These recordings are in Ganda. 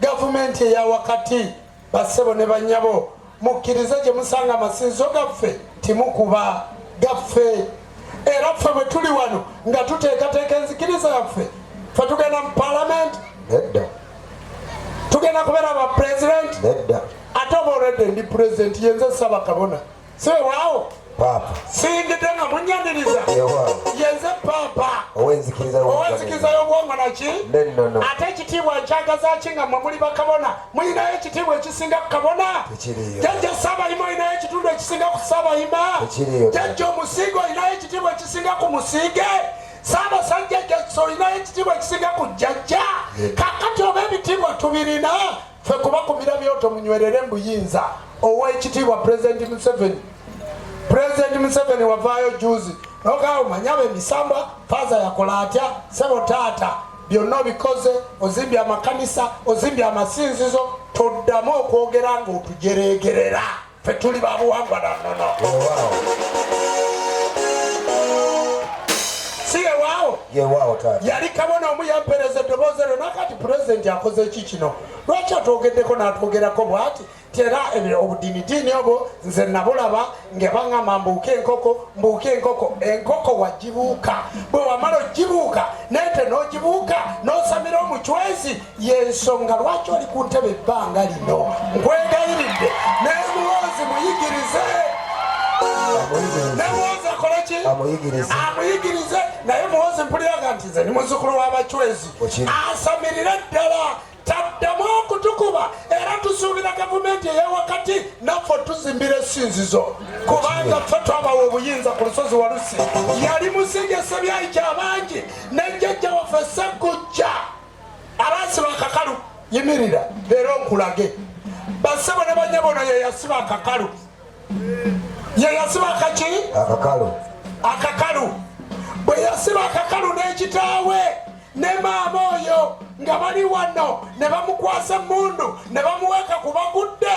Gavumenti eya wakati, bassebo ne bannyabo, mukkirize gye musanga amasinzizo gaffe, timukuba gaffe. Era ffe bwe tuli wano nga tuteekateeka enzikiriza yaffe, ffe tugenda mu palamenti nedda, tugenda kubeera ba pulezidenti nedda, ate oba olwedde ndi pulezidenti yenze saba kabona Sewaawo. Paapa. Singidde nga munyaniriza. Yewaawo. Yenze paapa. Ow'enzikiriza y'obwongo. Ow'enzikiriza y'obwongo naki? N'ennono. Ate ekitiibwa nkyagaza ki nga mmwe muli bakabona? Mulinayo ekitiibwa ekisinga ku kabona? Tekiriyo. Jajja Ssaabayima olinayo ekitundu ekisinga ku Ssaabayima? Tekiriyo. Jajja omusiige olinayo ekitiibwa ekisinga ku musiige? Ssaabasajja jajja olinayo ekitiibwa ekisinga ku jajja? Kaakati oba ebitiibwa tubirina? Fe kuba kumira byoto munywerere mbuyinza owekitiibwa President Museveni. President Museveni wavaayo juzi nogaa omanya abemisambwa faza yakola atya sebo taata byonna obikoze ozimbye amakanisa ozimbye amasinzizo toddamu okwogera nga otujeregerera. Ffe tuli ba buwangwa na nnono. Si yewaawo? Yewaawo taata. Yali kabona omu yampereza eddoboozi eryo nakati pulezidenti akoze ki kino? Lwaki atwogeddeko n'atwogerako bw'ati nti era ebyo obudiinidiini obwo nze nabulaba nga baŋŋamba mbuuke enkoko mbuuke enkoko enkoko wagibuuka bwe wamala ogibuuka naye te n'ogibuuka n'osamira omucwezi yensonga lwaki oli ku ntebe ebbanga lino nkwegayiridde nemuwoozi muyigirize nemuwoozi akoleki amuyigirize naye muwoozi mpuliraga nti nze ni muzukulu w'abacwezi asamirire ddala taddamu okutukuba era tusuubira gavumenti eyawakati naffe tuzimbira esinzizo kubanga ffe twabawa obuyinza ku lusozi walusi yali musingesebyayi kyabangi ne jjajja waffe sekujja abasiba akakalu yimirira leero nkulage basebo ne banyabo no yeyasiba akakalu yeyasiba akaki akakalu akakalu bwe yasiba akakalu n'ekitaawe ne maama oyo nga bali wano ne bamukwasa emmundu ne bamuweeka ku bagudde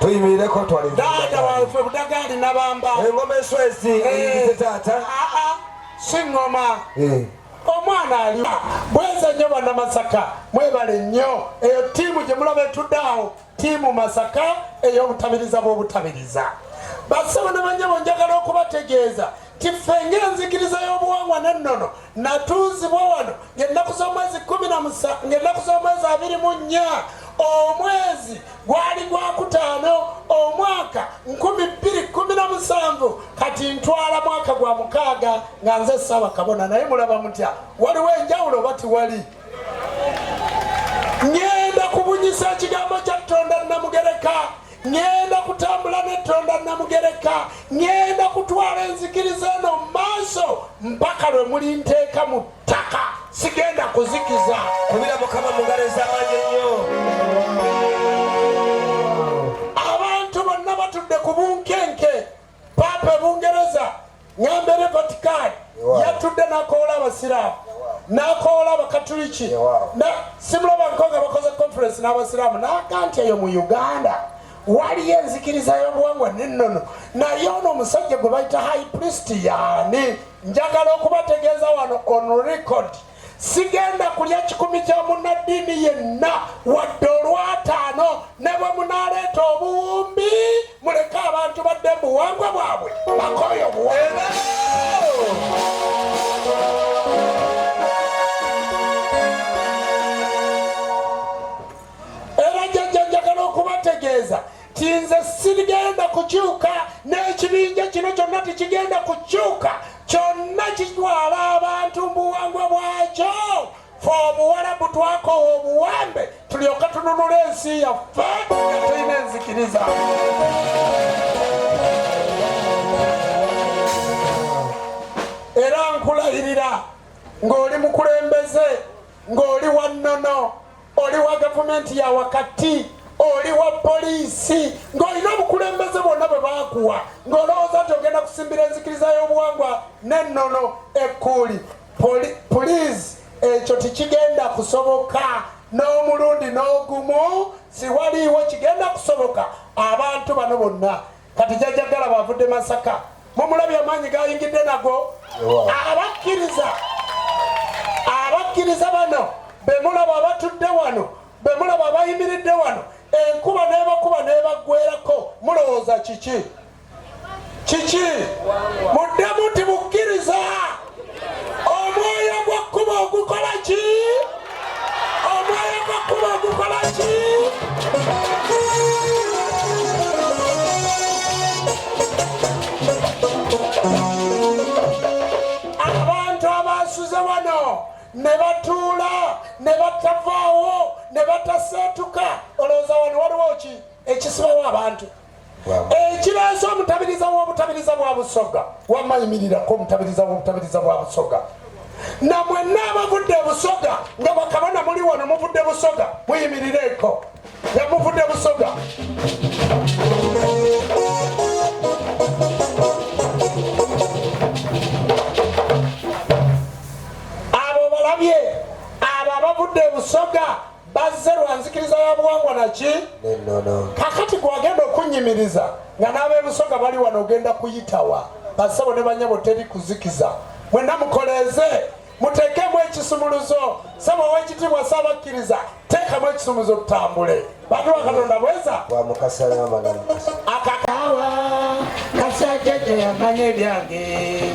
tuyimireko twali taata waffe budagaali nabamba engoma eswezi eyite eh. taata aa siŋoma eh. omwana ali bweza nnyo banamasaka mwebale nnyo eyo tiimu gye mulaba etuddaawo tiimu masaka ey'obutabiriza bw'obutabiriza basaba ne banyabo njagala okubategeeza tiffe ng'enzikiriza y'obuwangwa n'ennono natuuzibwa wano ng'ennaku z'omwezi kumi na musa ng'ennaku z'omwezi abiri mu nnya omwezi gwali gwakutaano omwaka nkumi bbiri kumi na musanvu kati ntwala mwaka gwa mukaaga nga nze ssaaba kabona naye mulaba mutya waliwo enjawulo oba tiwali ng'enda kubunyisa ekigambo kya tonda namugereka ŋŋenda kutambula n'ettonda Namugereka, ŋŋenda kutwala enzikiriza eno mu maaso mpaka lwe mulinteeka mu ttaka, sigenda kuzikiza. Kubira Mukama mu ngalo ez'amaanyi ennyo. Abantu bonna batudde ku bunkenke. Paapa e Bungereza Ngambere Vatican yatudde nakoola Abasiraamu nakoola Abakatuliki simulabanko nga bakoze conference n'Abasiraamu naga nti eyo mu Uganda waliyo enzikiriza y'obuwangwa n'ennono naye ono omusajja gwe bayita high priest yaani njagala okubategeeza wano on record sigenda kulya kikumi kya munnaddiini yenna wadde olwataano ne bwe munaaleeta obuwumbi muleke abantu badde mu buwangwa bwabwe bakooyo buwangwa Kinze sirigenda kukyuka n'ekibinja kino kyonna tekigenda kukyuka kyonna kitwala abantu mubuwangwa bwakyo fe obuwalabu twakowa obuwambe tulyoka tununula ensi yaffe nga tulina enzikiriza era nkulayirira ng'oli mukulembeze ng'oli wannono oli wa gavumenti ya wakati oli wa poliisi ng'olina obukulembeze bwonna bwe baakuwa ng'olowooza nti ogenda kusimbira enzikiriza y'obuwangwa n'ennono ekkuuli puliizi ekyo tikigenda kusoboka n'omulundi n'ogumu siwaliiwo kigenda kusoboka abantu bano bonna Kati jajja gala bavudde Masaka, mumulabye amaanyi gayingidde nago. Abakkiriza abakkiriza bano bemulaba abatudde wano, bemulaba abayimiridde wano, enkuba nebakuba nebaggwerako, mulowooza kiki? Kiki? Muddemu nti bukkiriza. omwoyo gw'ekkubo ogukola ki omwoyo gw'ekkubo ogukola ki abantu abasuze wano ne batuula ne batavaawo ne bataseetuka olowooza wano waliwo ki ekisibawo abantu ekireese omutabiriza w'obutabiriza bwa busoga wamayimirirako omutabiriza w'obutabiriza bwa busoga na mwenna abavudde busoga nga bakabona muli wano muvudde busoga muyimirireeko nga muvudde busoga abo balabye abo abavudde busoga bazze lwa nzikiriza ya buwangwa naki kakati gwagenda okunnyimiriza nga n'abeebusoga bali wano ogenda kuyitawa basebo ne banyabo teri kuzikiza mwena mukoleeze muteekemu ekisumuluzo sebo owekitiibwa saabakkiriza teekamu ekisumuluzo tutambule bantu bakatonda bweza akakawa kasajja teyamanya ebyange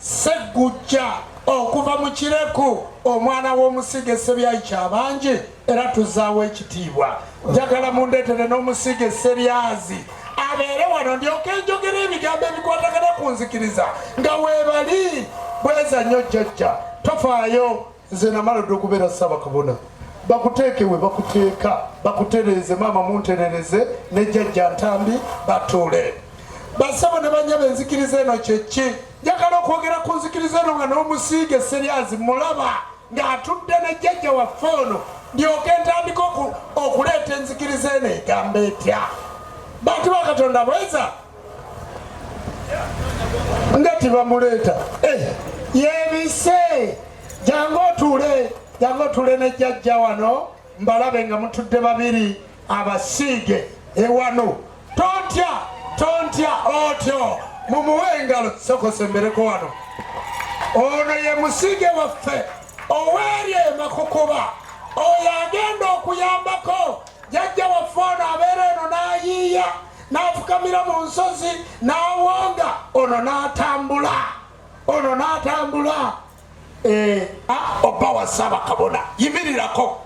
Sseggujja okuva mu Kireku omwana w'omusiige Sseryayi Kyabangi era tuzaawo ekitiibwa njagala mundeetere n'omusiige Sseryazi abeere wano ndyoka enjogera ebigambo ebikwatagana ku nzikiriza nga weebali bweza nnyo jjajja tofaayo nze namala dda okubeera ssabakabona bakuteeke we bakuteeka bakutereeze maama munterereze ne jjajja ntambi batuule basabo ne banyaba enzikiriza eno kyeki njagala okwogera ku nzikiriza eno nga n'omusiige seryazi mulaba ng'atudde ne jjajja waffe ono ndyoke ntandika okuleeta enzikiriza eno egamba etya bantu bakatonda bweza nga tebamuleeta eh, yebise jangu otuule jangu otuule ne jajja wano mbalabe nga mutudde babiri abasiige ewano tontya tontya otyo mumuwe engalo sokosembereko wano ono ye musiige waffe oweerye emakukuba oyo agenda okuyambako jajja waffe ono abeera eno n'ayiiya n'afukamira mu nsozi n'awonga ono n'atambula ono n'atambula eh, oba wasaaba kabona yimirirako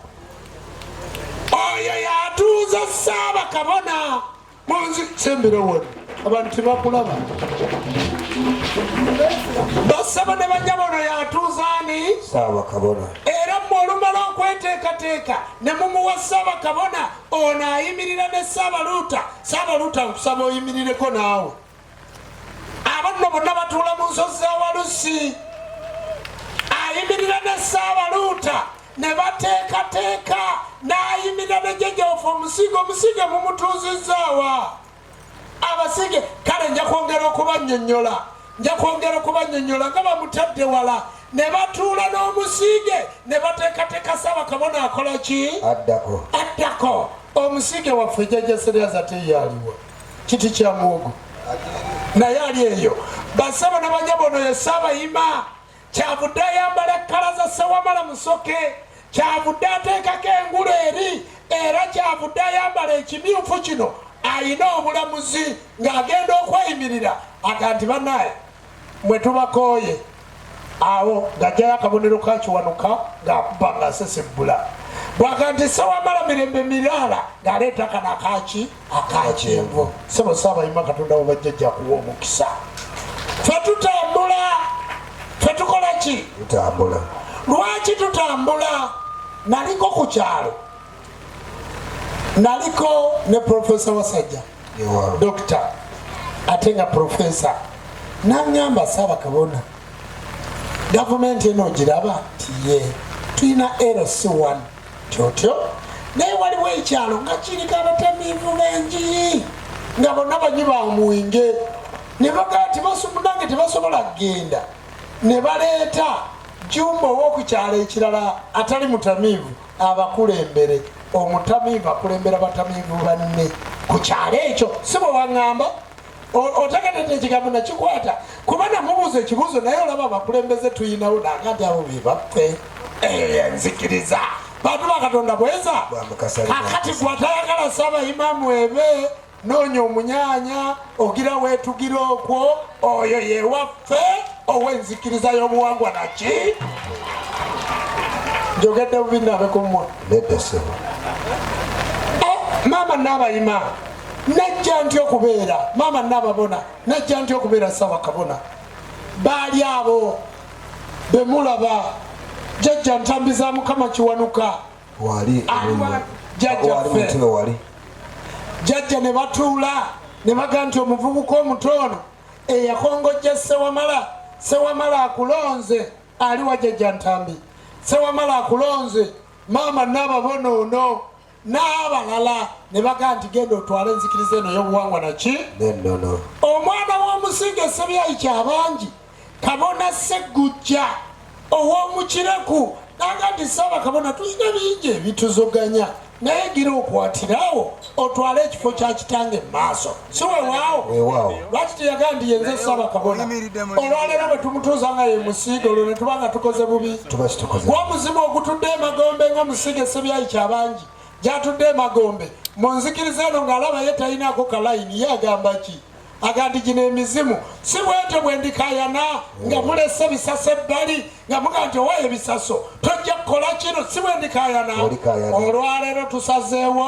oyo yatuuza saaba kabona munzi sembera wona abantu tebakulaba basaba ne bajja bono yatuuza ani saaba kabona era mwe olumala okweteekateeka ne mumuwa saaba kabona ono ayimirira ne saabaluuta saabaluuta nkusaba oyimirireko naawe abanno bonna batuula mu nsozi za walusi ayimirira ne saabaluuta ne bateekateeka n'ayimirira ne jejoofa omusiige omusiige mumutuuzizzaawa abasige kale nja kwongera okubanyonyola nja kwongera okubanyonyola nga bamutadde wala ne batuula n'omusiige ne bateekateeka saba kabona akola ki addako addako omusiige waffe jajaseryaza teyaliwo kiti kya muwogo naye ali eyo basaba nabanyabo ono ye saabayima kyavudde ayambala kkala za Ssewamala Musoke, kyavudde ateekako engulu eri era kyavudde ayambala ekimyufu kino ayina obulamuzi ng'agenda okweyimirira aga nti banaye mwe tubakooye awo ng'ajjayo akabonero kakiwanuka ng'akuba ng'asesebbula bwaga nti sewamala mirembe miraala ng'aleeta kana kaki akakyenvu sebo saabayima katonda webajjajja kuwa omukisa fe tutambula fe tukola ki tutambula lwaki tutambula naliko ku kyalo naliko ne profesa wasajja dokita ate nga profesa nangamba saaba kabona gavumenti eno ogiraba tiye tulina lc1 kyotyo naye waliwo ekyalo nga kiriko abatamiivu benjiyi nga bonna banyi ba mwenge ne bagaa ti basumunange tebasobola kugenda ne baleeta jumba owokukyalo ekirala atali mutamiivu abakulembere omutamiivu akulembera batamiivu banne ku kyalo ekyo si bwe waŋŋamba otegeredde ekigambo nakikwata kuba namubuuza ekibuuzo naye olaba abakulembeze tuyinawo nangati abo bebaffe enzikiriza bantu bakatonda bweza kakati gwatayagala saba imamu ebe noonya omunyanya ogira wetugira okwo oyo yewaffe owenzikiriza yobuwangwa naki njogedde bubi nabekumwa eh, maama nabayima najja ntya okubeera maama nababona najja ntya okubeera sabakabona baali abo bemulaba jajja ntambi za mukama kiwanuka jajjaffe jajja ne batuula ne baga nti omuvubuka omuto ono eyakongojja sewamala sewamala akulonze ali wa jajja ntambi sewamala akulonze maama nababona ono n'abalala ne baga nti genda otwale enzikiriza eno y'obuwangwa naki nennono omwana w'omusinga esebyayi kyabangi kabona seggujja ow'omukireku nanga nti saaba kabona tulina bingi ebituzoganya naye gira okwatirawo otwale ekifo kya kitange mu maaso si wewaawo lwaki teyaga nti yenze esaba kabona olwaleero bwe tumutuuza nga ye musiige olwo ne tuba nga tukoze bubi gwa omuzimu ogutudde emagombe nga musiige esebyayi kyabangi gyatudde emagombe mu nzikiriza eno ng'alaba ye talinaako kalayini ye agamba ki agandi gino emizimu si bwetyo bwendikayana nga mulese bisasa ebbali nga muga nti owa ebisaso tojja kukola kino si bwe ndikayana olwaleero tusazeewo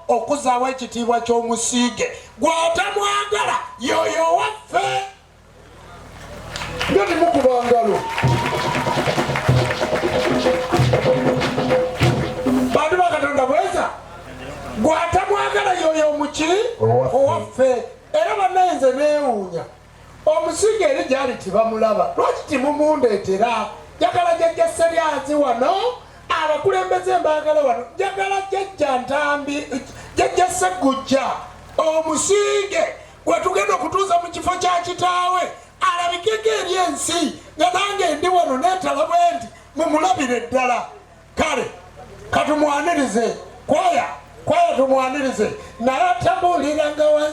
okuzaawo ekitiibwa ky'omusiige gwatamwagala yoyo waffe nga nemukuba ngalo bantu bakatonda bweza gwatamwagala yoyo omuki owaffe era banaenze neewuunya Omusinga eri gyali tebamulaba lwaki temumundeetera? Njagala jajja Seryanzi wano, abakulembeze mbaagala wano, njagala jajja Ntambi, jajja Ssegujja, omusinge gwe tugenda okutuuza mu kifo kya kitaawe alabikeko eri ensi nga nange ndi wano neetala bwe nti mumulabire ddala kale katumwanirize kwaya kwaya tumwanirize naye atambuuliranga wansi